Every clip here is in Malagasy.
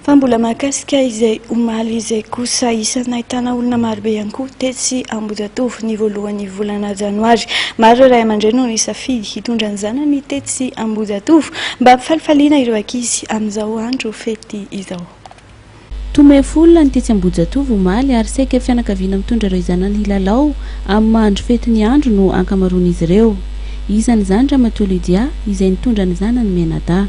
Fa mbola mahakasika izay omaly izay kosa, isan'ny nahitana olona marobe ihany koa tetsy Ambohijatovo ny voalohan'ny volana janoary. Maro ireo ray aman-dreny no nisafidy hitondra ny zanany tetsy Ambohijatovo mba hampifalifaliana ireo ankizy amin'izao andro fety izao. Tomefy olona ny tetsy Ambohijatovo omaly ary saika fianakaviana mitondra ireo zanany hilalao amin'ny maha andro fety ny andro no ankamaroan'izy ireo. Isan'izany Ramatoa Lydia izay nitondra ny zanany mianadahy.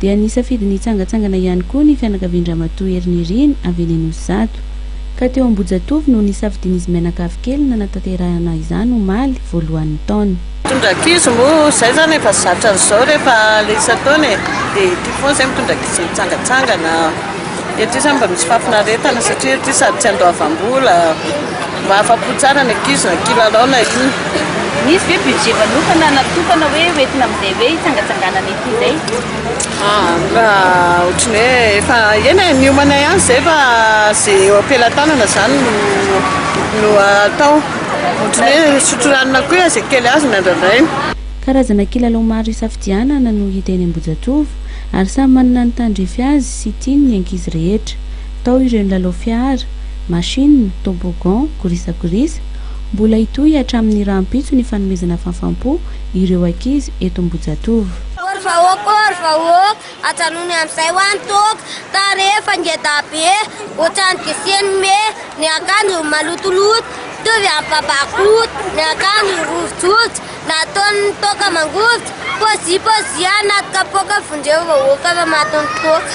dia nisafidy ny hitsangantsangana ihany koa ny fianakavian-dRamatoa Hery Nirina avy eny Anosizato. Ka teo Ambohijatovo no nisafidian'izy mianakavy kely nanatanterahana izany omaly voalohan'ny taona. Mitondra ankizy moa izay izany efa zatra an'izao rehefa ilay isan-taona e. Dia ity foana izay mitondra ankizy hitsangantsangana. Dia ity izany mba misy fahafinaretana satria ity sady tsy andoavam-bola. Mba afa-po tsara ny ankizy na kilalao na inona. Misy ve budget manokana natokana hoe ho entina amin'izay hoe hitsangatsanganana ety indray? Raha ohatran'ny hoe efa eny e, miomana ihany izay fa izay eo am-pelatanana izany no no atao. Ohatran'ny hoe misotro ranona koa izay kely azo no andrandraina. Karazana kilalao maro isafidianana no hita eny Ambohijatovo ary samy manana ny tandrify azy sy tiany ny ankizy rehetra. Tao ireo nilalao fiara, machine, toboggan, gorisagorisa. Mbola hitohy hatramin'ny rahampitso ny fanomezana fahafam-po ireo ankizy eto Ambohijatovo. Ory vahoaka ory vahoaka ajanony amzay wa ny toaka tarehy efa ngeda be otrany giseny me ny akanjo malotoloto mitovy am babakoto ny akanjo rovijojo nataon ny toaka mangovitra pozi pozi anaty kapoaka vondreo vahoaka fa maty ny toaka.